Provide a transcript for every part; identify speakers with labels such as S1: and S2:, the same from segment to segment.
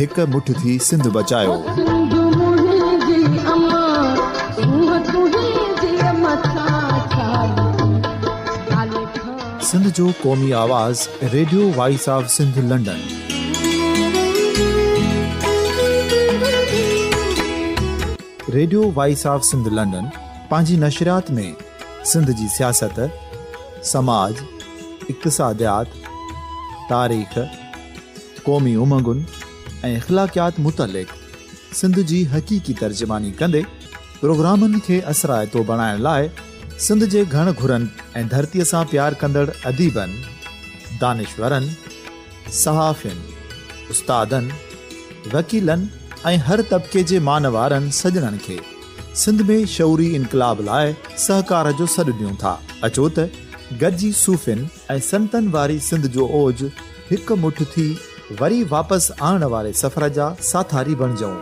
S1: هڪ مٺ ٿي سنڌ بچايو.
S2: سنڌ جو قومي
S1: آواز radio voice of Sindh London. Radio voice of Sindh London پنهنجي نشريات ۾ سنڌ جي سياست، سماج، اقتصاديات، تاريخ، قومي امنگن ۽ اخلاقيات متعلق سنڌ جي حقيقي ترجماني ڪندي پروگرامن کي اثرائتو بڻائڻ لاء سنڌ جي گهڻ گهرن ۽ ڌرتيء سان پيار ڪندڙ اديبن، دانشورن، صحافين، استادن، وڪيلن ۽ هر طبقي جي مان وارن سڄڻن کي سنڌ ۾ شعوري انقلاب لاء سهڪار جو سڏ ڏيون ٿا. اچو ته گڏجي صوفين، ۽ سنتن واري سنڌ جو اوج هڪ مٺ ٿي وري واپس آڻڻ واري سفر جا ساٿاري بڻجئون.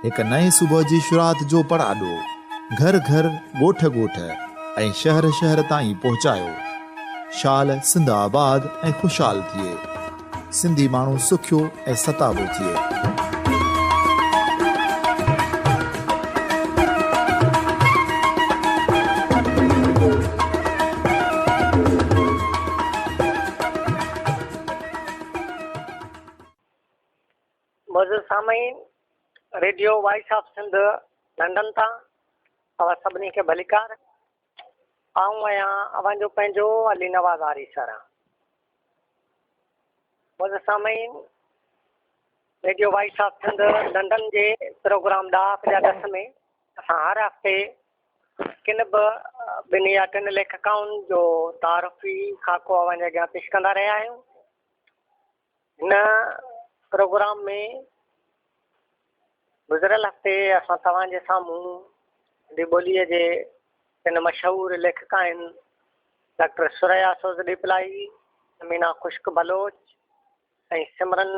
S1: هڪ نئين صبح جي شروعات جو پڙاڏو گهر گهر، ڳوٺ ڳوٺ ۽ شهر شهر تائين پهچايو. شال سنڌ آباد ۽ خوشحال ٿئي. سنڌي ماڻهو سکيو ۽ ستابو ٿئي.
S3: معزز سامعين radio voice of Sindh London تان اوهان سڀني کي ڀليڪار آئون آهيان اوهان جو پنهنجو علي نواز آريسر معزز سامعين! Radio voice of Sindh London جي پروگرام ڏاهپ جا ڏس ۾ اسان هر هفتي ڪن به ٻن يا ٽن ليکڪائن جو تعارفي خاڪو اوهان جي اڳيان پيش ڪندا رهيا آهيون هن پروگرام ۾ گذريل هفتي اسان توهان جي سامهون سنڌي ٻوليء جي ٽن مشهور ليکڪائن ڊاڪٽر ثريا سوز ڏيپلائي، امينا خشڪ بلوچ ۽ سمرن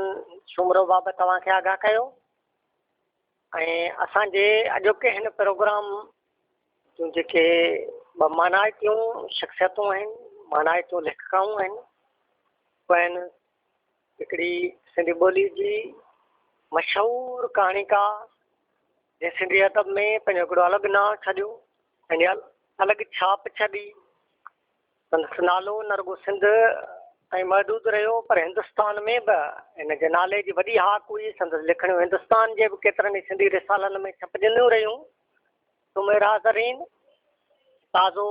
S3: سومرو بابت توهان کي آگاهه ڪيو ۽ اسان جي اڄوڪي هن پروگرام جون جيڪي ٻه مانائتيون شخصيتون آهن مانائتيون ليکڪائون آهن اهي آهن هڪڙي سنڌي ٻولي جي مشهور ڪهاڻيڪار جنهن سنڌي ادب ۾ پنهنجو هڪڙو الڳ نانء ڇڏيو پنهنجي الڳ ڇاپ ڇڏي سندس نالو نه رڳو سنڌ تائين محدود رهيو پر هندستان ۾ به ان جي نالي جي وڏي هاڪ هئي سندس لکڻيون هندستان جي به ڪيترن ئي سنڌي رسالن ۾ ڇپجنديون رهيون سميرا زرين تازو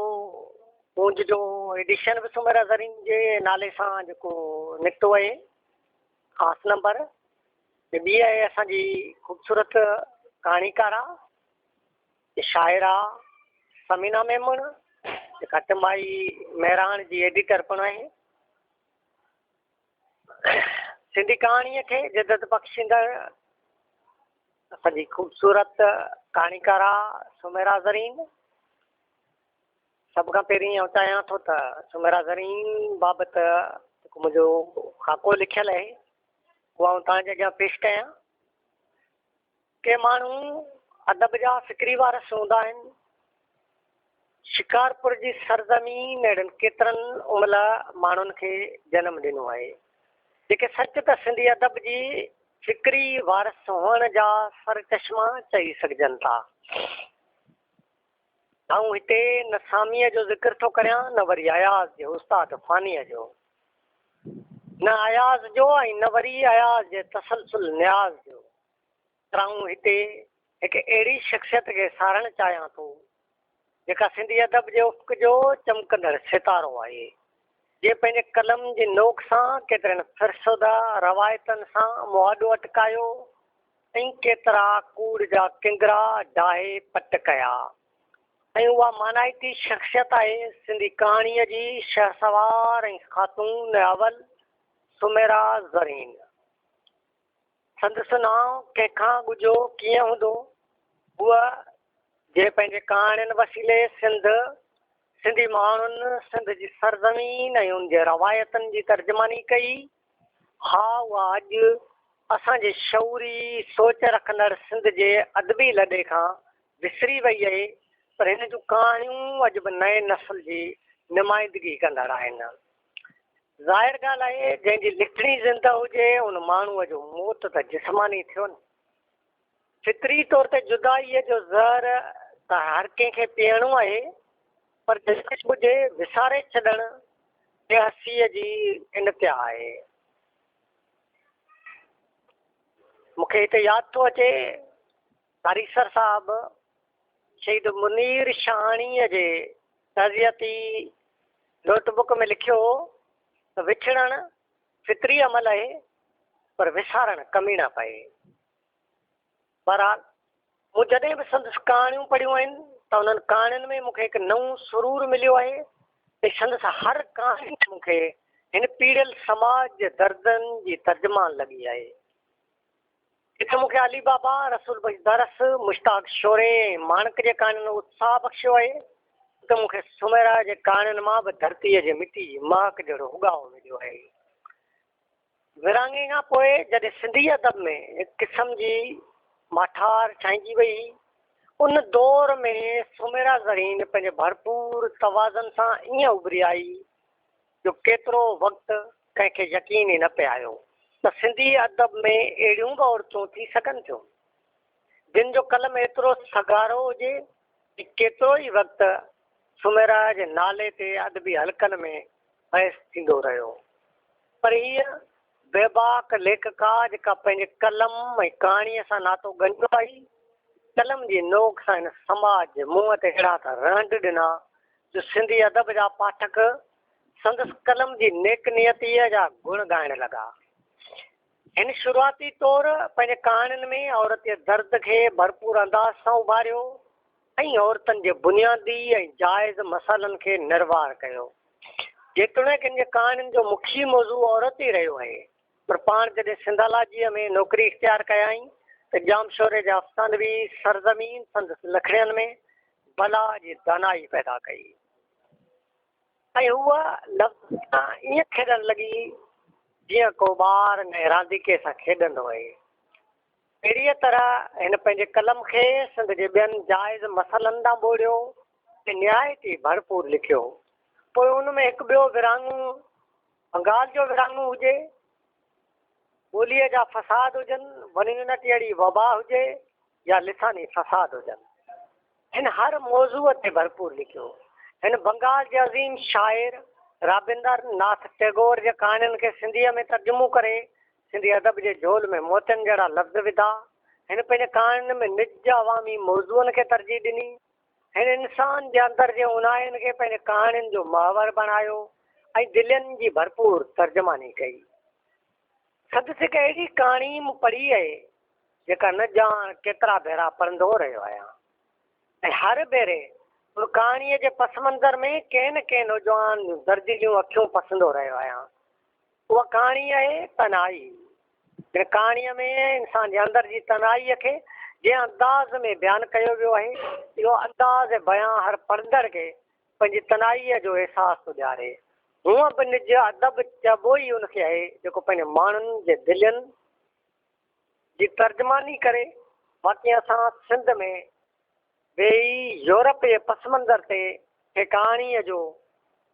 S3: گونج جو ايڊيشن به سميرا زرين جي نالي سان جيڪو نڪتو آهي خاص نمبر ٻي آهي اسان جي خوبصورت ڪهاڻيڪارا شاعرا سمينا ميمڻ جيڪا ٽمائي مهراڻ جي ايڊيٽر پڻ آهي سنڌي ڪهاڻيء کي جدت بخشيندڙ اسان جي خوبصورت ڪهاڻيڪارا سميرا زرين سڀ کان پهرين آئون چاهيان ٿو ته سميرا زرين بابت جيڪو منهنجو خاڪو لکيل آهي اهو آئون تهان جي اڳيان پيش ڪيان ڪي ماڻهو ادب جا فڪري وارث هوندا آهن. شڪارپور جي سرزمين اهڙن ڪيترن املهه ماڻهن کي جنم ڏنو آهي، جيڪي سچ ته سنڌي ادب جي فڪري وارث هئڻ جا سرچشما چئي سگهجن ٿا. آئون هتي نه ساميء جو ذڪر ٿو ڪريان نه وري اياز جي استاد فانيء جو. نه اياز جو ۽ نه وري اياز جي تسلسل نياز جو. پر آئون هتي هڪ اهڙي شخصيت کي ساراهڻ چاهيان ٿو، جيڪا سنڌي ادب جي افق جو چمڪندڙ ستارو آهي، جنهن پنهنجي قلم جي نوڪ سان ڪيترن فرسوده روايتن سان مون اڏو اٽڪايو ۽ ڪيترا ڪوڙ جا ڪنگرا ڊاهي پٽ ڪيا ۽ اها مانائتي شخصيت آهي سنڌي ڪهاڻيء جي شهسوار ۽ خاتون اول سميرا زرين. سندس نانء ڪنهن کان ڳجهو ڪيئن هوندو؟ هوء جنهن پنهنجي ڪهاڻين وسيلي سنڌ، سنڌي ماڻهن، سنڌ جي سرزمين ۽ ان جي روايتن جي ترجماني ڪئي، ها اها اڄ اسان جي شعوري سوچ رکندڙ سنڌ جي ادبي لڏي کان وسري وئي اهي پر هن جون ڪهاڻيون اڄ به نئين نسل جي نمائندگي ڪندڙ آهن. ظاهر ڳالهه آهي جنهن جي لکڻي زنده هجي ان ماڻهوء جو موت ته جسماني ٿيو نه فطري طور تي جدائيء جو زهر ته هر ڪنهن کي پيئڻو آهي، پر دلڪش ٻجهي وساري ڇڏڻ بي حسيء جي انتها آهي. مون کي هتي ياد ٿو اچي تاريخسر صاحب شهيد منير شاهاڻيء جي تعزيتي نوٽ بڪ ۾ لکيو هو ته وڇڙڻ فطري عمل آهي، پر وسارڻ ڪميڻا پئي. بهرحال مون جڏهن به سندس ڪهاڻيون پڙهيون آهن ته انهن ڪهاڻين ۾ مون کي هڪ نئون سرور مليو آهي ۽ سندس هر ڪهاڻي مون کي هن پيڙهيل سماج جي دردن جي ترجمان لڳي آهي. جتي مون کي علي بابا، رسول بخش درس، مشتاق شوري ۽ ماڻڪ جي ڪهاڻين اتساهه بخشيو آهي اتي مون کي سميرا جي ڪهاڻين مان به ڌرتيء جي مٽي جي مهڪ جهڙو اگهاء مليو آهي. ورهاڱي کان پوء جڏهن سنڌي ادب ۾ هڪ قسم جي ماٺار ڇائنجي وئي، ان دور ۾ سميرا زرين پنهنجي ڀرپور توازن سان ائين اڀري آئي جو ڪيترو وقت ڪنهن کي يقين ئي نه پئي آيو ته سنڌي ادب ۾ اهڙيون به عورتون ٿي سگهن ٿيون، جن جو قلم ايترو سگهارو هجي ڪيتروئي وقت سميرا جي نالي تي ادبي حلقن ۾ بحث ٿيندو رهيو، پر هيء بيباڪ ليکڪا جيڪا پنهنجي قلم ۽ ڪهاڻيء سان ناتو ڳنڍيو آهي، قلم جي نوڪ سان هن سماج جي منهن تي اهڙا ته رهنڊ ڏنا، جو سنڌي ادب جا پاٺڪ سندس قلم جي نيڪ نيتيء جا گڻ ڳائڻ لڳا. هن شروعاتي طور پنهنجي ڪهاڻين ۾ عورتي درد کي ڀرپور انداز سان اڀاريو ۽ عورتن جي بنيادي ۽ جائز مسئلن کي نروار ڪيو. جيتوڻيڪ هن جي ڪهاڻين جو مکيه موضوع عورت ئي رهيو آهي، پر پاڻ جڏهن سنڌالاجيء ۾ نوڪري اختيار ڪيائين ته ڄامشوري جي افسانوي سرزمين سندس لکڻين ۾ بلا جي دانائي پيدا ڪئي. ۽ هوء لفظن سان ائين کيڏڻ لڳي، جيئن ڪو ٻار نئين رانديڪي سان کيڏندو هئي. اهڙيء طرح هن پنهنجي قلم کي سنڌ جي ٻين جائز مسئلن ڏانهن ٻوڙيو ۽ نهايت ئي ڀرپور لکيو. پوء ان ۾ هڪ ٻيو ورهاڱو بنگال جو ورهاڱو هجي، ٻوليء جا فساد هجن، ونڃڻ ٽيئڙي وبا هجي، يا لساني فساد هجن، هن هر موضوع تي ڀرپور لکيو. هن بنگال جي عظيم شاعر رابندر ناٿ ٽئگور جي ڪهاڻين کي سنڌيء ۾ ترجمو ڪري سنڌي ادب جي جهول ۾ موتين جهڙا لفظ وڌا. هن پنهنجي ڪهاڻين ۾ نج جي عوامي موضوعن کي ترجيح ڏني. هن انسان جي اندر جي اونهاين کي پنهنجي ڪهاڻين جو محور بڻايو ۽ دلين جي ڀرپور ترجماني ڪئي. سندس هڪ اهڙي ڪهاڻي مون پڙهي اهي جيڪا نه ڄاڻ ڪيترا ڀيرا پڙهندو رهيو آهيان ۽ هر ڀيري ان ڪهاڻيء جي پس منظر ۾ ڪنهن نه ڪنهن نوجوان جون درزيليون اکيون پسندو رهيو آهيان. اها ڪهاڻي آهي تنهائي. هن ڪهاڻيء ۾ انسان جي اندر جي تنهائيء کي جنهن انداز ۾ بيان ڪيو ويو آهي، اهو انداز ۽ بيان هر پڙهندڙ کي پنهنجي تنهائيء جو احساس ٿو ڏياري. هونء به نج ادب چئبو ئي ان کي آهي، جيڪو پنهنجي ماڻهن جي دلين جي ترجماني ڪري. باقي اسان سنڌ ۾ ويهي يورپ جي پس منظر تي ڪنهن ڪهاڻيء جو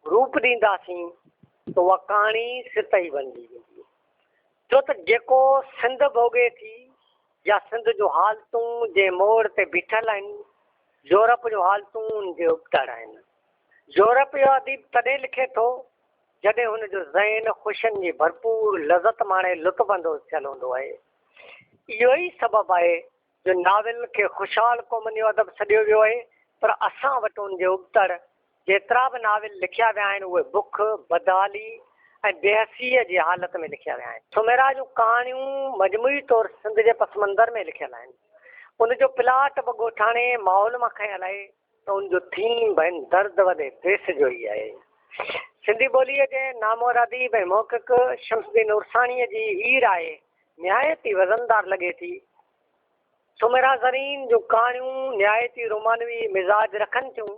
S3: روپ ڏينداسين ته اها ڪهاڻي ست ئي بڻجي ويندي. ڇو ته جيڪو سنڌ ڀوڳي ٿي يا سنڌ جون حالتون جنهن موڙ تي بيٺل آهن، يورپ جون حالتون ان جي ابتڙ آهن. يورپ جو اديب تڏهن لکي ٿو، جڏهن هن جو ذهن خوشين جي ڀرپور لذت ماڻي لطف اندوز ٿيل هوندو آهي. اهو ئي سبب آهي جو ناول کي خوشحال قومن جو ادب سڏيو ويو آهي، پر اسان وٽ ان جي ابتڙ جيترا به ناول لکيا ويا آهن، اهي بک، بدحالي ۽ بيحسيء جي حالت ۾ لکيا ويا آهن. سميرا جون ڪهاڻيون مجموعي طور سنڌ جي پسمنظر ۾ لکيل آهن. ان جو پلاٽ به ڳوٺاڻي ماحول مان کنيل آهي. ته ان جو ٿيم ۽ درد وڏي ديس جو ئي آهي. سنڌي ٻوليء جي نامور اديب ۽ محقق شمس الدين عرساڻيء جي هيء راء نهايت ئي وزندار لڳي ٿي. سومرا زرين جون ڪهاڻيون نهايت ئي رومانوي مزاج رکن ٿيون.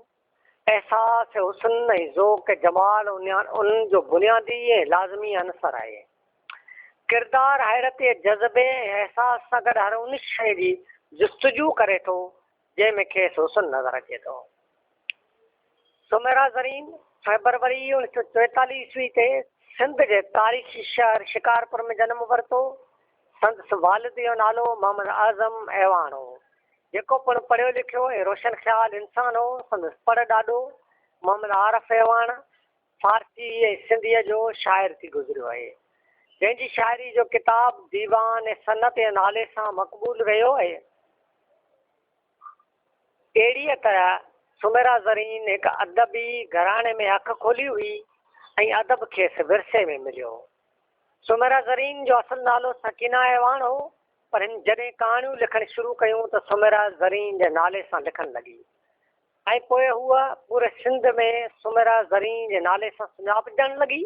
S3: احساس حسن ۽ ذوق جمال انهن جو بنيادي ۽ لازمي عنصر آهي. ڪردار حيرت جذبي ۽ احساس سان گڏ هر ان شيء جي جستجو ڪري ٿو، جنهن ۾ کيس حسن نظر اچي ٿو. سميرا زرين فيبروري اوڻيھ سئو چويتاليھ عيسوي تي سنڌ جي تاريخي شهر شڪارپور ۾ جنم ورتو. سندس والد جو نالو محمد اعظم اعواڻ هو، جيڪو پڻ پڙهيو لکيو ۽ روشن خيال انسان هو. سندس پڙ ڏاڏو محمد عارف اعواڻ فارسيء ۽ سنڌيء جو شاعر ٿي گذريو آهي، جنهن جي شاعريء جو ڪتاب ديوان ۽ صنعت جي نالي سان مقبول رهيو آهي. اهڙيء طرح سميرا زرين هڪ ادبي گهراڻي ۾ اک کولي هئي ۽ ادب کيس ورثي ۾ مليو هو. سميرا زرين جو اصل نالو سڪينه اعواڻ هو، پر هن جڏهن ڪهاڻيون لکڻ شروع ڪيون ته سميرا زرين جي نالي سان لکڻ لڳي. ۽ پوء هوء پوري سنڌ ۾ سميرا زرين جي نالي سان سڃاپجڻ لڳي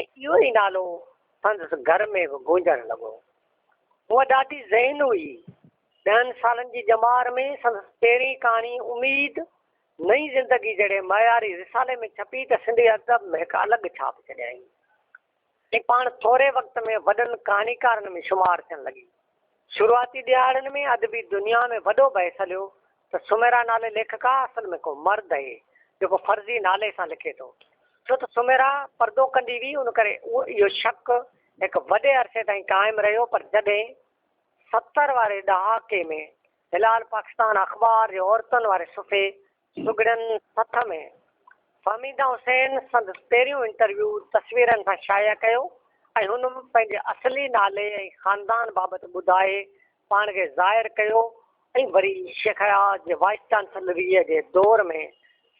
S3: ۽ اهو ئي نالو سندس گهر ۾ به گونجڻ لڳو. هوء ڏاڍي ذهين هئي. ڏهن سالن جي ڄمار ۾ سندس پهرين ڪهاڻي اميد، نئين زندگي جهڙي معياري رسالي ۾ ڇپي ته سنڌي ادب مهڪ الڳ ڇاپ ڇڏيائين. هي پاڻ ٿوري وقت ۾ وڏن ڪهاڻيڪارن ۾ شمار ٿيڻ لڳي. شروعاتي ڏهاڙن ۾ ادبي دنيا ۾ وڏو بحث هليو ته سميرا نالي ليکڪا اصل ۾ ڪو مرد اهي جيڪو فرضي نالي سان لکي ٿو. ڇو ته سميرا پردو ڪندي هئي ان ڪري اهو شڪ هڪ وڏي عرصي تائين قائم رهيو پر جڏهن ستر واري ڏهاڪي ۾ هلال پاڪستان اخبار جي عورتن واري صفحي سگهڙن سٿ ۾ فهميده حسين سندس پهريون انٽرويو تصويرن سان شايع ڪيو ۽ هن پنهنجي اصلي نالي ۽ خاندان بابت ٻڌائي پاڻ کي ظاهر ڪيو ۽ وري شيخ اياز جي وائيس چانسلريء جي دور ۾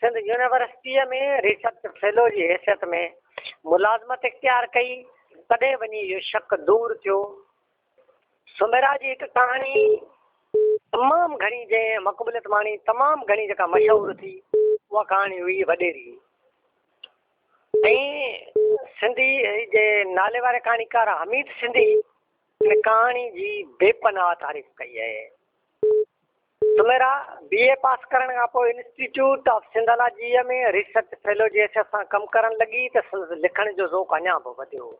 S3: سنڌ يونيورسٽيء ۾ ريسرچ فيلو جي حيثيت ۾ ملازمت اختيار ڪئي، تڏهن وڃي اهو شڪ دور ٿيو. سميرا جي هڪ ڪهاڻي تمام گهڻي جنهن مقبوليت ماڻي تمام گهڻي جيڪا مشهور ٿي اها ڪهاڻي هئي وڏيري ۽ سنڌي جي نالي واري ڪهاڻيڪار حميد سنڌي هن ڪهاڻي جي بي پناهه تعريف ڪئي آهي سميرا بي اي پاس ڪرڻ کان پوء انسٽيٽيوٽ آف سنڌالاجيء ۾ ريسرچ فيلو جي حيثيت سان ڪم ڪرڻ لڳي ته سندس لکڻ جو ذوق اڃا به وڌيو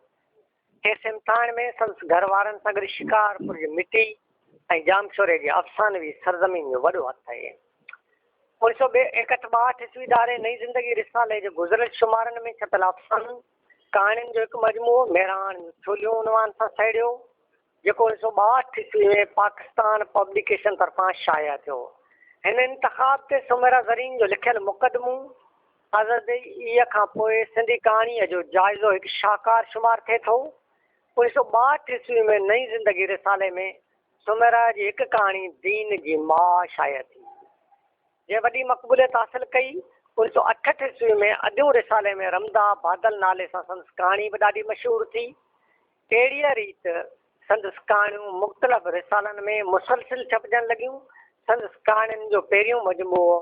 S3: کيس امتحان ۾ سندس گهر وارن سان گڏ شڪارپور جي مٽي ۽ ڄامشوري جي افسانوي سرزمين جو وڏو هٿ آهي. انيس سؤ ايڪهٺ ٻاهٺ عيسوي ڌاري نئين زندگي رسالي جي گذريل شمارن ۾ ڇپيل افسانن ڪهاڻين جو هڪ مجموعو مهراڻ جون ڇوليون عنوان سان سهيڙيو جيڪو انيس سؤ ٻاهٺ عيسوي ۾ پاڪستان پبليڪيشن طرفان شايع ٿيو. هن انتخاب تي سميرا زرين جو لکيل مقدمو آزدي اي کان پوء سنڌي ڪهاڻيء جو جائزو هڪ شاهڪار شمار ٿئي ٿو. انيس سؤ ٻاهٺ عيسوي ۾ نئين زندگي رسالي ۾ سميرا جي هڪ ڪهاڻي دين جي ماء شايع ٿي، جنهن وڏي مقبوليت حاصل ڪئي. انيس سؤ اٺهٺ عيسوي ۾ اديون رسالي ۾ رمدا بادل نالي سان سندس ڪهاڻي به ڏاڍي مشهور ٿي. اهڙيء ريت سندس ڪهاڻيون مختلف رسالن ۾ مسلسل ڇپجڻ لڳيون. سندس ڪهاڻين جو پهريون مجموعو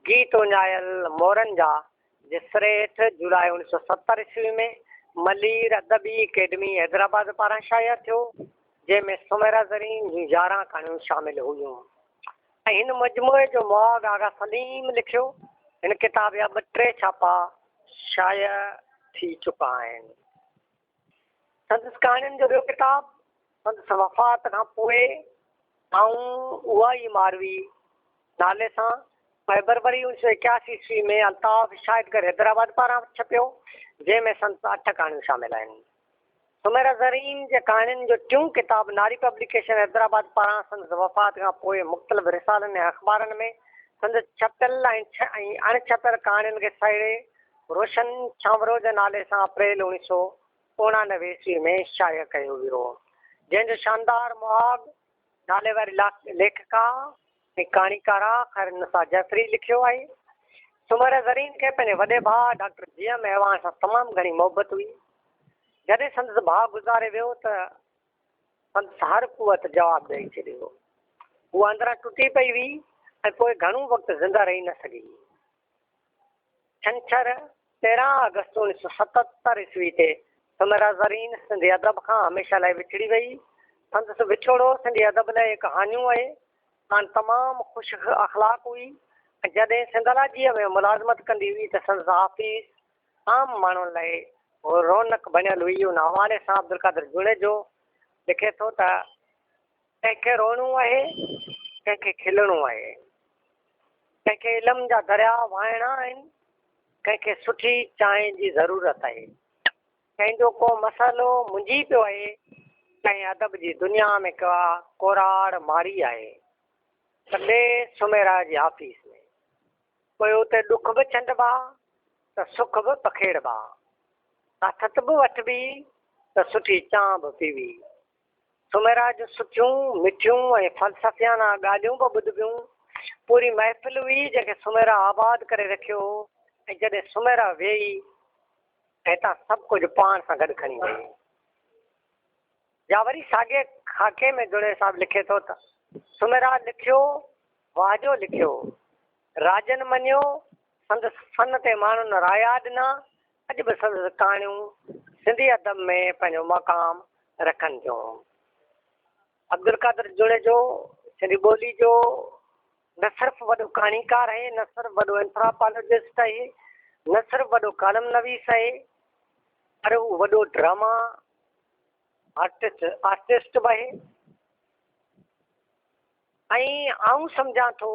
S3: گيت اڃايل مورن جا جسر هيٺ جولاء اڻ سؤ ستر عيسوي ۾ ملير ادبي اڪيڊمي حيدرآباد پاران شايع ٿيو، جنهن ۾ سميرا زرين جون يارهن ڪهاڻيون شامل هيون ۽ هن مجموعي جو مهاڳ آغا سليم لکيو. هن ڪتاب جا ٻه ٽي ڇاپا شايع ٿي چڪا آهن. سندس ڪهاڻين جو ٻيو ڪتاب سندس وفات کان پوء آئون اها ئي ماروي نالي سان فيبروري اوڻيھ سو ايڪياسي عيسوي ۾ الطاف شاهدگر حيدرآباد پاران ڇپيو جنهن ۾ سندس اٺ ڪهاڻيون شامل آهن. سميرا زرين جي ڪهاڻين جو ٽيون ڪتاب ناري پبليڪيشن حيدرآباد پاران سندس وفات کان پوء مختلف رسالن ۽ اخبارن ۾ سندس ڇپيل ۽ اڻ ڇپيل ڪهاڻين کي سهيڙي روشن ڇانورو جي نالي سان اپريل اوڻيھ سؤ اوڻانوي عيسوي ۾ شايع ڪيو ويو هو، جنهن جو شاندار مهاڳ نالي واري ليکڪا ۽ ڪهاڻيڪاره خيرالنساء جعفري لکيو آهي. سومريه زرين کي پنهنجي وڏي ڀاء ڊاڪٽر جي ايم اعواڻ سان تمام گهڻي محبت هئي. جڏهن سندس ڀاء گذاري ويو ته سندس هر قوت جواب ڏئي ڇڏيو. هوء اندران ٽٽي پئي ويئي ۽ پوء گهڻو وقت زنده رهي نه سگهي. ڇنڇر، تيرهن آگسٽ اوڻيھ سؤ ستهتر عيسوي تي سميرا زرين سنڌي ادب کان هميشه لاء وڇڙي ويئي. سندس وڇوڙو سنڌي ادب لاء هڪ هاڃو آهي. ساڻ تمام خوش اخلاق هئي ۽ جڏهن سنڌالاجيء ۾ ملازمت ڪندي هئي ته سندس آفيس عام ماڻهن لاء رونق بڻيل هئي. ان حوالي سان عبدالقادر جوڻيجو لکي ٿو ته. ڪنهن کي روئڻو آهي، ڪنهن کي کلڻو آهي، ڪنهن کي علم جا درياء وهائڻا آهن، ڪنهن کي سٺي چانهه جي ضرورت آهي، ڪنهن جو ڪو مسئلو منجهي پيو آهي، ڪنهن ادب جي دنيا ۾ ڪا ڪوراڙ ماري آهي ته ٻئي سميرا جي آفيس ۾. پوء اتي ڏک به ڇنڊبا ته سک به پکيڙبا، آٿت به وٺبي ته سٺي چانهه به پيوي، سومرا جون سٺيون، مٺيون ۽ فلسفيانه ڳالهيون به ٻڌبيون. پوري محفل هئي جنهن کي سومرا آباد ڪري رکيو هو ۽ جڏهن سومرا ويئي ته هتان سڀ ڪجهه پاڻ سان گڏ کڻي ويئي. يا وري ساڳئي خاڪي ۾ جوڻيجو صاحب لکي ٿو ته، سومرا لکيو، واهجو لکيو، راڄن مڃيو، سندس فن تي ماڻهن رايا ڏنا، اڄ به سندس ڪهاڻيون سنڌي ادب ۾ پنهنجو مقام رکن ٿيون. عبدالقادر جوڻيجو سنڌي ٻولي جو نه صرف وڏو ڪهاڻيڪار آهي، نه صرف وڏو اينٿراپالاجسٽ آهي، نه صرف وڏو ڪالم نويس آهي، پر هو وڏو ڊراما آرٽسٽ آرٽسٽ به آهي. ۽ آئون سمجهان ٿو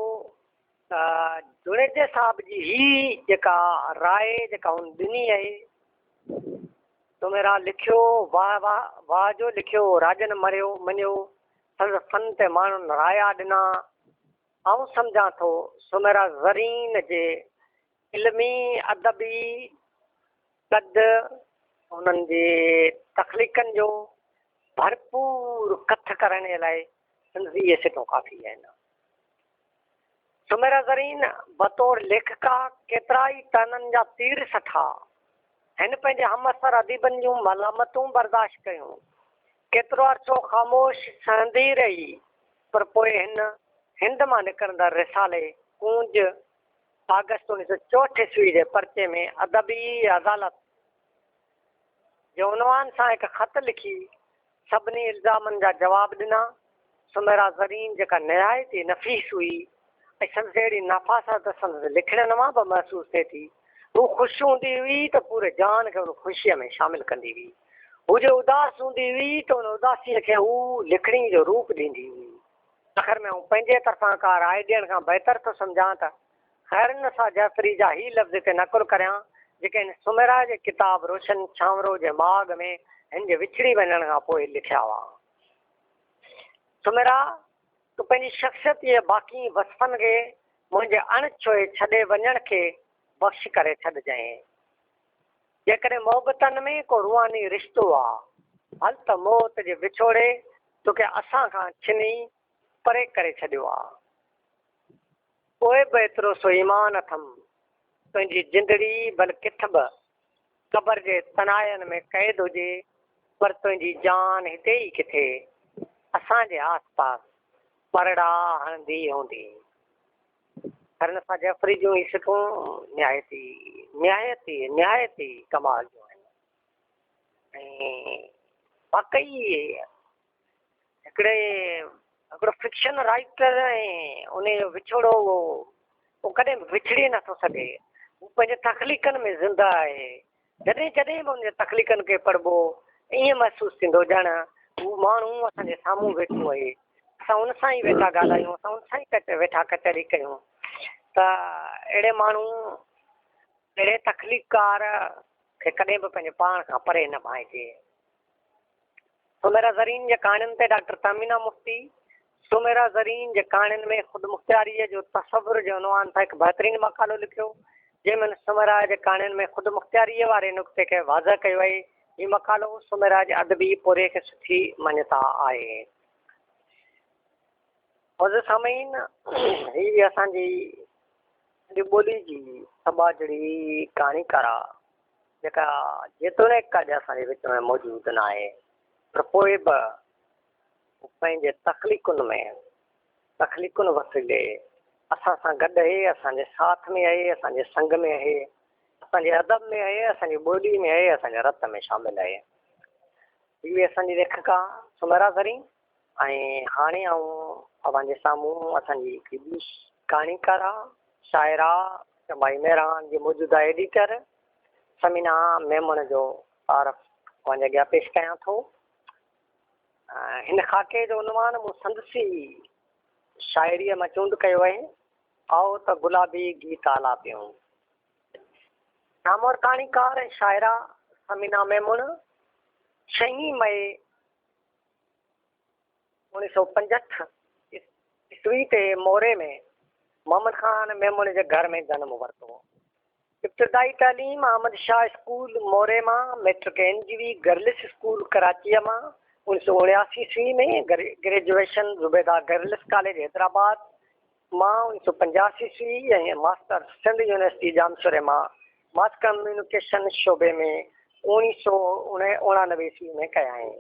S3: ته جوڻيجي صاحب جي هي جيڪا راء جيڪا هن ڏني اهي سوميرا لکيو واهه واهه واهه جو لکيو راڄن مريو مڃيو سندس فن تي ماڻهن رايا ڏنا آئون سمجهان ٿو سوميرا زرين جي علمي ادبي قد، هنن جي تخليقن جو ڀرپور ڪٿ ڪرڻ لاء سنڌي اهي سٽون ڪافي آهن. سميرا زرين بطور ليکڪا ڪيترائي طعنن جا تير سٺا. هن پنهنجي همعصر اديبن جون ملامتون برداشت ڪيون. ڪيترو عرصو خاموش سهندي رهي پر پوء هن هند مان نڪرندڙ رسالي ڪونج آگسٽ اوڻيھ سؤ چوهٺ عيسوي جي پرچي ۾ ادبي عدالت جي عنوان سان هڪ خط لکي سڀني الزامن جا جواب ڏنا. سميرا زرين جيڪا نهايت ئي نفيس هئي ۽ سندس اهڙي نفاست سندس لکڻين مان به محسوس ٿئي ٿي. هوء خوش هوندي هئي ته پوري جهان کي ان خوشيء ۾ شامل ڪندي هئي. هو جي اداس هوندي هئي ته ان اداسيء کي هوء لکڻي جو روپ ڏيندي هئي. آخر ۾ آئون پنهنجي طرفان ڪا راء ڏيڻ کان بهتر ٿو سمجهان ته خيرالنساء جعفري جا هي لفظ هتي نقل ڪريان، جيڪي هن سوميرا جي ڪتاب روشن ڇانورو جي ماڳ ۾ هن جي وڇڙي وڃڻ کان پوء لکيا هئا. سوميرا! تون پنهنجي شخصيت جي باقين وصفن کي منهنجي اڻ ڇهي ڇڏي وڃڻ کي بخش ڪري ڇڏجانء. جيڪڏهن محبتن ۾ ڪو روحاني رشتو آ، هل ته موت جي وڇوڙي توکي اسان کان ڇني پري ڪري ڇڏيو آ. پوء به ايترو سو ايمان اٿم، تنهنجي جندڙي ڀل ڪٿ به قبر جي تنهاين ۾ قيد هجي، پر تنهنجي جان هتي ئي ڪٿي اسان جي آس پاس پرڙا هڻندي هوندي. خرنسا جعفري جون هي سٽون نهايت ئي نهايت ئي نهايت ئي ڪمال جون آهن ۽ واقعي هڪڙي هڪڙو فڪشن رائٽر ۽ ان جو وڇوڙو اهو ڪڏهن وڇڙي نٿو سگهي هو پنهنجي تخليقن ۾ زندهه آهي جڏهن جڏهن به هن تخليقن کي پڙهبو ائين محسوس ٿيندو ڄڻ هو ماڻهو اسان جي سامهون ويٺو اهي اسان هن سان ئي ويٺا ڳالهايون اسان هن سان ئي ويٺا ڪچهري ڪيون ته اهڙي ماڻهو اهڙي تخليقڪار کي ڪڏهن به پنهنجي پاڻ کان پري نه ڀانئجي. سميرا زرين جي ڪهاڻين تي ڊاڪٽر تهمينا مفتي سميرا زرين جي ڪهاڻين ۾ خودمختياريء جو تصور جي عنوان سان هڪ بهترين مقالو لکيو، جنهن ۾ هن سميرا جي ڪهاڻين ۾ خودمختياريء واري نقطي کي واضح ڪيو آهي. هي مقالو سميرا جي ادبي پورهيي کي سٺي مڃتا آهي. معزز سامعين، هي اسان جي سنڌي ٻولي جي سٻاجهڙي ڪهاڻيڪاره جيڪا جيتوڻيڪ اڄ اسان جي وچ ۾ موجود ناهي پر پوء به هو پنهنجي تخليقن ۾ تخليقن وسيلي اسان سان گڏ اهي اسان جي ساٿ ۾ اهي اسان جي سنگ ۾ اهي اسان جي ادب ۾ اهي اسان جي ٻولي ۾ اهي اسان جي رت ۾ شامل اهي هي اسان جي ليکڪا سميرا زرين ۽ هاڻي آئون اوهان جي سامهون اسان جي هڪ ٻي ڪهاڻيڪاره، شاعره چمبائي مهراڻ جي موجوده ايڊيٽر ثمينه ميمڻ جو تعارف اوهان جي اڳيان پيش ڪيان ٿو. هن خاڪي جو عنوان مون سندس ئي شاعريء مان چونڊ ڪيو آهي، آئو ته گلابي گيت آلاپيون. نامور ڪهاڻيڪاره ۽ شاعره ثمينه ميمڻ ڇهين مئي اوڻيھ سؤ پنجهٺ عيسوي تي موري ۾ محمد خان ميمڻ جي گهر ۾ جنم ورتو. ابتدائي تعليم احمد شاهه اسڪول موري مان، matric N J V girls school ڪراچيء مان، اوڻيھ سؤ اڻياسي عيسوي ۾ graduation Zubaida girls college Hyderabad مان اوڻيھ سؤ پنجاھ سي سي ۽ ماستر سنڌ يونيورسٽي ڄامشوري مان ماس ڪميونيڪيشن شعبي ۾ اوڻيھ سؤ اڻانوي عيسوي ۾ ڪيائين.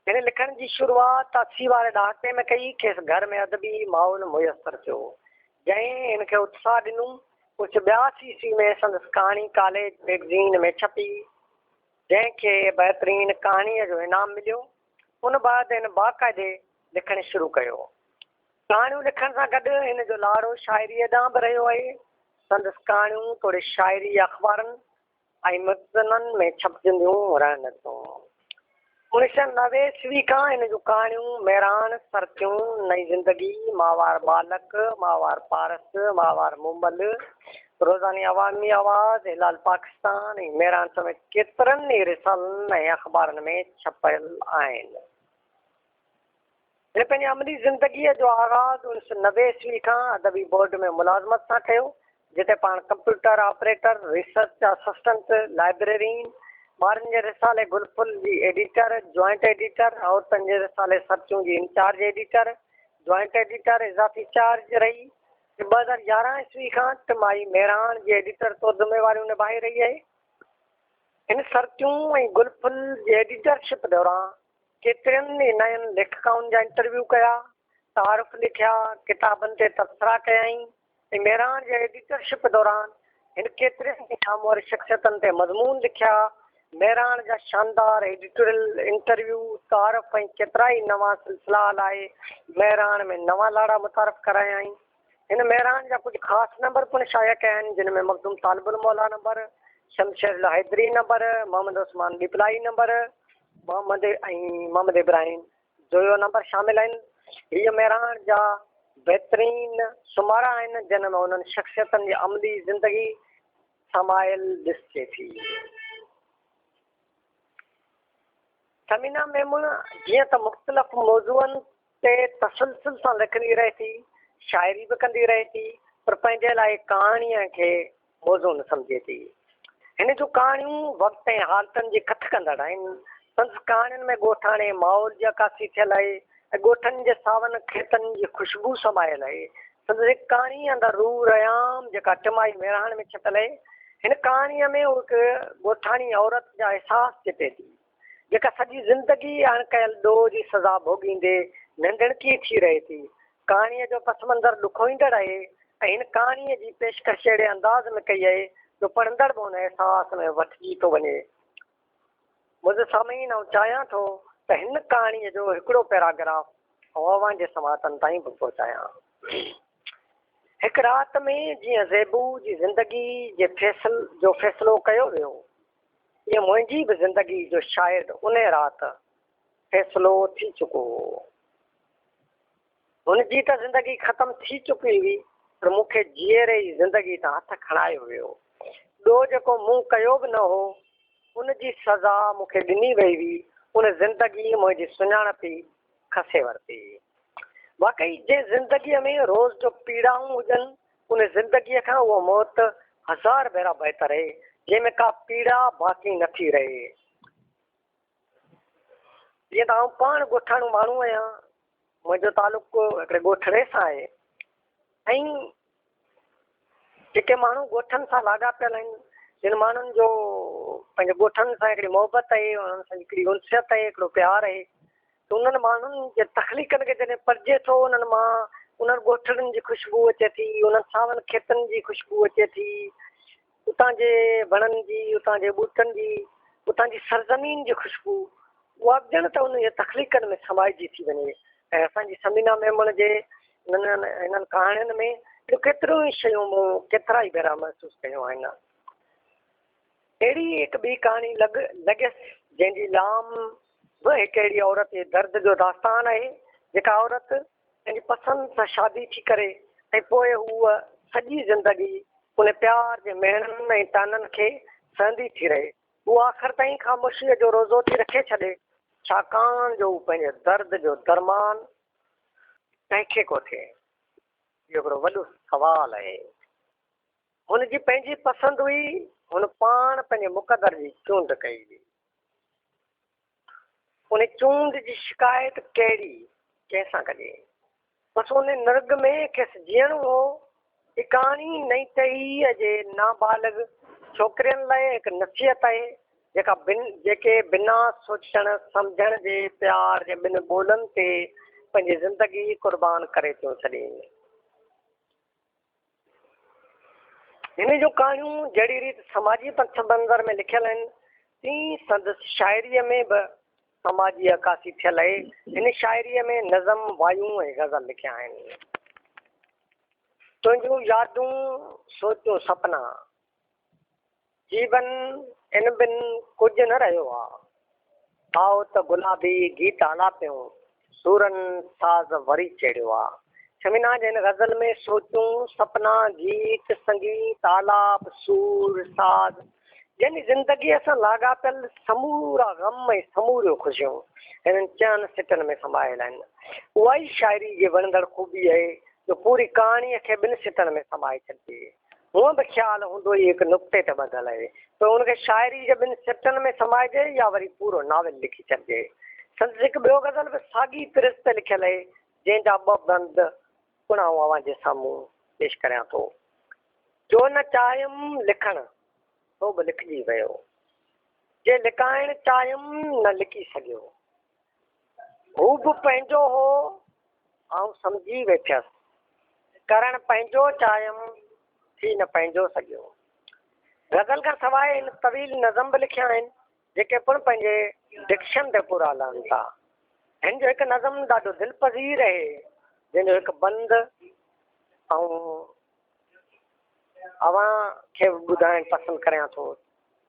S3: هن لکڻ جي شروعات اسي واري ڏهاڪي ۾ ڪئي، کيس گهر ۾ ادبي ماحول ميسر ٿيو، جنهن هن کي اتساھ ڏنو، اوڻيھ سؤ ٻياسي عيسوي ۾ سندس ڪهاڻي ڪاليج ميگزين ۾ ڇپي، جنهن کي بهترين ڪهاڻيء جو انعام مليو، ان بعد هن باقاعدي لکڻ شروع ڪيو. ڪهاڻيون لکڻ سان گڏ هن جو لاڙو شاعريء ڏانهن به رهيو آهي. سندس ڪهاڻيون توڙي شاعري اخبارن ۽ مجزنن ۾ ڇپجنديون رهن ٿيون. انيس سئو نوي عيسوي کان هن جون ڪهاڻيون ميراڻ، سرتيون، نئين زندگي، ماهوار ٻالڪ، ماهوار پارس، ماهوار مومل، روزاني عوامي آواز، هلال پاڪستان ۽ ميراڻ سميت ڪيترن ئي رسالن ۽ اخبارن ۾ ڇپيل آهن. هن پنهنجي عملي زندگيء جو آغاز انيس سؤ نوي عيسوي کان ادبي بورڊ ۾ ملازمت سان ڪيو، جتي پاڻ computer operator, research assistant, librarian, ٻارن جي رسالي گل ڦل جي ايڊيٽر، جوائنٽ ايڊيٽر، عورتن جي رسالي سرچون جي انچارج ايڊيٽر، جوائنٽ ايڊيٽر اضافي چارج رهي ۽ ٻه هزار يارهن عيسوي کان ٽمائي ميڙاڻ جي ايڊيٽر طور ذميواريون نڀائي رهي آهي. هن سرچون ۽ گل ڦل جي ايڊيٽرشپ دوران ڪيترن ئي نين ليکڪائن جا انٽرويو ڪيا، تعارف لکيا، ڪتابن تي تبصرا ڪيائين ۽ ميراڻ جي ايڊيٽرشپ دوران هن ڪيترين ئي نامور شخصيتن تي مضمون لکيا. ميراڻ جا شاندار ايڊيٽوريل، انٽرويو، تعارف ۽ ڪيترائي نوان سلسلا هلائي ميراڻ ۾ نوان لاڙا متعارف ڪرايائين. هن مهراڻ جا ڪجهه خاص نمبر پڻ شايع ڪيا آهن، جن ۾ مخدوم طالب الموليٰ نمبر، شمشير الله Haideri number, Muhammad Usman Diplai number, Muhammad ۽ Muhammad Ibrahim Joyo number شامل آهن. هيء مهراڻ جا بهترين سومارا آهن، جن ۾ انهن شخصيتن جي عملي زندگي سمايل ڏسجي ٿي. ثمينه ميمڻ جيئن ته مختلف موضوعن تي تسلسل سان لکندي رهي ٿي، شاعري به ڪندي رهي ٿي پر پنهنجي لاء ڪهاڻيء کي موضوع نه سمجهي ٿي. هن جون ڪهاڻيون وقت ۽ حالتن جي ڪٿ ڪندڙ آهن. سندس ڪهاڻين ۾ ڳوٺاڻي ماحول جي عڪاسي ٿيل آهي ۽ ڳوٺن جي ساون کيتن جي خوشبو سمايل آهي. سندس هڪ ڪهاڻي اندر روح ريام جيڪا ٽمائي ميراڻ ۾ ڇپيل آهي. هن ڪهاڻيء ۾ هو هڪ ڳوٺاڻي عورت جا احساس چٽي ٿي. جيڪا سڄي زندگي اڻ ڪيل ڏوهه جي سزا ڀوڳيندي ننڍڻڪي ٿي رهي ٿي. ڪهاڻيء جو پس منظر ڏکوئيندڙ اهي ۽ هن ڪهاڻيء جي پيشڪش اهڙي انداز ۾ ڪئي اهي جو پڙهندڙ به ان احساس ۾ وٺجي ٿو وڃي. معزز سامعين آئون چاهيان ٿو ته هن ڪهاڻيء جو هڪڙو پيراگراف آئون اوهان جي سماعتن تائين به پهچايان. هڪ رات ۾ جيئن زيبو جي زندگي جي فيصل جو فيصلو ڪيو ويو. جيئن منهنجي به زندگي جو شايد انهي رات فيصلو ٿي چڪو هو. هن جي ته زندگي ختم ٿي چڪي هئي پر مون کي جيئري ئي زندگي تان هٿ کڻايو ويو. ٻيو جيڪو مون ڪيو به نه هو ان جي سزا مون کي ڏني وئي هئي. ان زندگي منهنجي سڃاڻپ ئي کسي ورتي. واقعي جنهن زندگي ۾ روز جو پيڙائون هجن ان زندگيء کان اها موت هزار ڀيرا بهتر اهي، جنهن ۾ ڪا پيڙا باقي نه ٿي رهي. جيئن ته آئون پاڻ ڳوٺاڻو ماڻهو آهيان، منهنجو تعلق هڪڙي ڳوٺڙي سان آهي ۽ جيڪي ماڻهو ڳوٺن سان لاڳاپيل آهن، جن ماڻهن جو پنهنجي ڳوٺن سان هڪڙي محبت اهي، انهن سان هڪڙي انسيت اهي، هڪڙو پيار اهي، انهن ماڻهن جي تخليقن کي جڏهن پڙهجي ٿو، انهن مان انهن ڳوٺڙن جي خوشبو اچي ٿي، انهن ساون کيتن جي خوشبو اچي ٿي، اتان جي وڻن جي، اتان جي ٻوٽن جي، اتان جي سرزمين جي خوشبو، اها به ڄڻ ته انهن جي تخليقن ۾ سمائجي ٿي وڃي ۽ اسان جي ثمينه ميمڻ جي هنن ڪهاڻين ۾ اهڙيون ڪيتريون ئي شيون مون ڪيترا ئي ڀيرا محسوس ڪيون آهن. اهڙي ئي هڪ ٻي ڪهاڻي لڳ لڳيس جنهن جي لام به هڪ اهڙي عورت جي درد جو داستان آهي جيڪا عورت پنهنجي پسند سان شادي ٿي ڪري ۽ پوء هوء سڄي زندگي ان پيار جي مهڻن ۽ طعنن کي سهندي ٿي رهي. هوء آخر تائين خاموشيء جو روزو ٿي رکي ڇڏي ڇاڪاڻ جو هو پنهنجي درد جو درمان ڪنهن کي ڪو ٿئي. اهو هڪڙو وڏو سوال آهي. هن جي پنهنجي پسند هئي، هن پاڻ پنهنجي مقدر جي چونڊ ڪئي هئي. ان چونڊ جي شڪايت ڪهڙي ڪنهن سان ڪجي؟ بس ان نرڳ ۾ کيس جيئڻو هو. اڪاڻي نئيٽهيء جي نابالغ ڇوڪرين لاء هڪ نصيحت آهي، جيڪا بن جيڪي بنا سوچڻ سمجهڻ جي پيار جي ٻن ٻولن تي پنهنجي زندگي قربان ڪري ٿيون ڇڏين. هن جون ڪهاڻيون جهڙي ريت سماجي پس منظر ۾ لکيل آهن، تيئن ئي سندس شاعريء ۾ به سماجي عڪاسي ٿيل آهي. هن شاعريء ۾ نظم، وايون ۽ غزل لکيا آهن. تنهنجون يادون، سوچون سپنا. جيون ان بن ڪجهه نه رهيو آ. آئو ته گلابي گيت آلاپيون، سورن ساز وري چيڙهيو آ. شمينا جي هن غزل ۾ سوچون، سپنا، گيت، سنگيت، آلاپ، سور، ساز يعني زندگيء سان لاڳاپيل سمورا غم ۽ سموريون خوشيون هنن چئن سٽن ۾ سمايل آهن. اها ئي شاعري جي وڻندڙ خوبي آهي جو پوري ڪهاڻيء کي ٻن سٽن ۾ سمائي ڇڏجي. هونء به خيال هوندو ئي هڪ نقطي تي ٻڌل آهي. پوء ان کي شاعريء جي ٻن سٽن ۾ سمائجي يا وري پورو ناول لکي ڇڏجي. سندس هڪ ٻيو غزل به ساڳي طرز تي لکيل آهي، جنهن جا ٻه بند پڻ آئون اوهان جي سامهون پيش ڪريان ٿو. جو نه چاهيم لکڻ، سو به لکجي ويو. جي لڪائڻ چاهيم، نه لڪي سگهيو. هو به پنهنجو هو، آئون سمجهي ويٺيس. ڪرڻ پنهنجو چاهيم، ٿي نه پنهنجو سگهيو. غزل کان سواء هن طويل نظم به لکيا آهن، جيڪي پڻ پنهنجي ڊڪشن تي پورا لهن ٿا. هن جو هڪ نظم ڏاڍو دل پذير اهي، جنهن جو هڪ بند آئون اوهان کي ٻڌائڻ پسند ڪريان ٿو.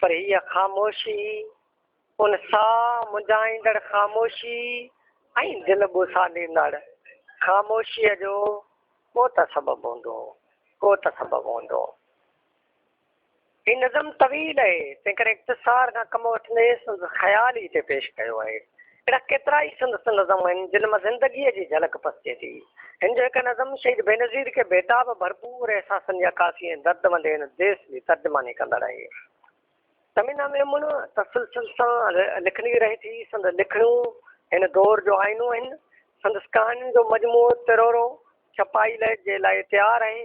S3: پر هيء خاموشي، ان ساهه منجهائيندڙ خاموشي ۽ دل ٻوساڏيندڙ خاموشيء جو ڪو ته سبب هوندو، ڪو ته سبب هوندو. هي نظم طويل اهي، تنهنڪري اختصار کان ڪم وٺندي سندس خيال ئي هتي پيش ڪيو آهي. اهڙا ڪيترائي سندس نظم آهن، جن مان زندگيء جي جهلڪ پسجي ٿي. هن جو هڪ نظم شهيد بينظير کي بيتاب ڀرپور احساسن جي عڪاسي ۽ درد وندي هن ديس جي ترجماني ڪندڙ آهي. تمنا ميمڻ تسلسل سان لکندي رهي ٿي. سندس لکڻيون هن دور جو آئينو آهن. سندس ڪهاڻين جو مجموعو ترورو ڇپائي لئه جي لاء تيار آهي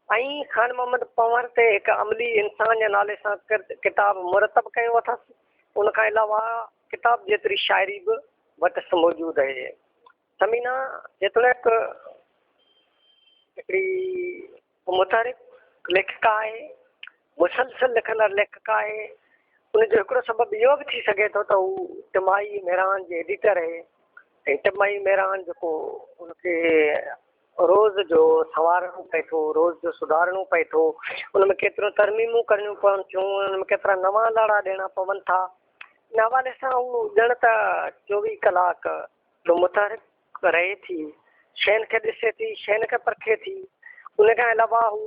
S3: ۽ خان محمد پنهور تي هڪ عملي انسان جي نالي سان ڪتاب مرتب ڪيو اٿس. ان کان علاوه ڪتاب جيتري شاعري به وٽس موجود آهي. ثمينه جيتوڻيڪ هڪڙي متحرڪ ليکڪا آهي، مسلسل لکندڙ ليکڪا آهي، ان جو هڪڙو سبب اهو به ٿي سگهي ٿو ته هو ٽمائي ميران جي ايڊيٽر آهي ۽ ٽمائي ميران جيڪو ان کي روز جو سنوارڻو پئي ٿو، روز جو سڌارڻو پئي ٿو، ان ۾ ڪيتريون ترميمون ڪرڻيون پون ٿيون، ان ۾ ڪيترا نوان لاڙا ڏيڻا پون ٿا. ان حوالي سان هو ڄڻ ته چوويهه ڪلاڪ جو متحرڪ رهي ٿي، شين کي ڏسي ٿي، شين کي پرکي ٿي. ان کان علاوه هو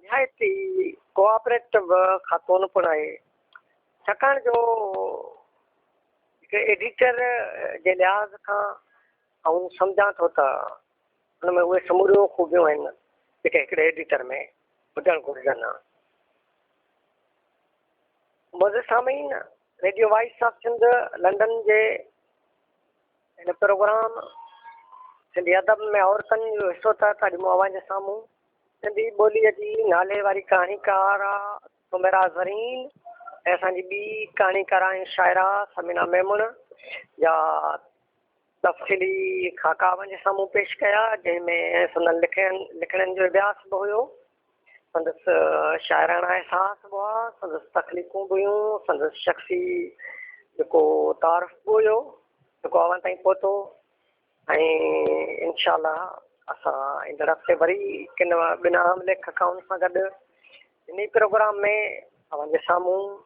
S3: نهايت ئي ڪوآپريٽو خاتون پڻ آهي، ڇاڪاڻ جو هڪ ايڊيٽر جي لحاظ کان آئون سمجهان ٿو ته، ان ۾ اهي سموريون خوبيون آهن جيڪي هڪڙي ايڊيٽر ۾ هجڻ گهرجن ها. معزز سامعين radio voice of Sindh London جي هن پروگرام سنڌي ادب ۾ عورتن جو حصو تحت اڄ مون اوهان جي سامهون سنڌي ٻولي جي نالي واري ڪهاڻيڪار سميرا زرين ۽ اسان جي ٻي ڪهاڻيڪار آهن شاعرا سمينا ميمڻ جا تفصيلي خاڪا اوهانجي سامهون پيش ڪيا، جنهن ۾ سندن لکڻين جو اڀياس به هيو، سندس شاعراڻا احساس به هئا، سندس تخليقون به هيون، سندس شخصي جيڪو تعارف به هيو، جيڪو اوهان تائين پهتو ۽ انشاء الله اسان ايندڙ هفتي وري ڪن ٻن اهم ليکڪائن سان گڏ انهي پروگرام ۾ اوهانجي سامهون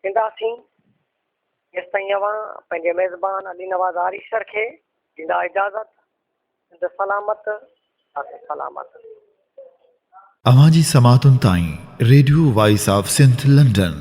S3: اينداسين. ايستائين اوهان پنهنجي ميزبان علي نواز آريسر کي ڏيندا اجازت. سنڌ سلامت اسين سلامت.
S1: اوهان جي سماعتن تائين radio voice of Sindh London.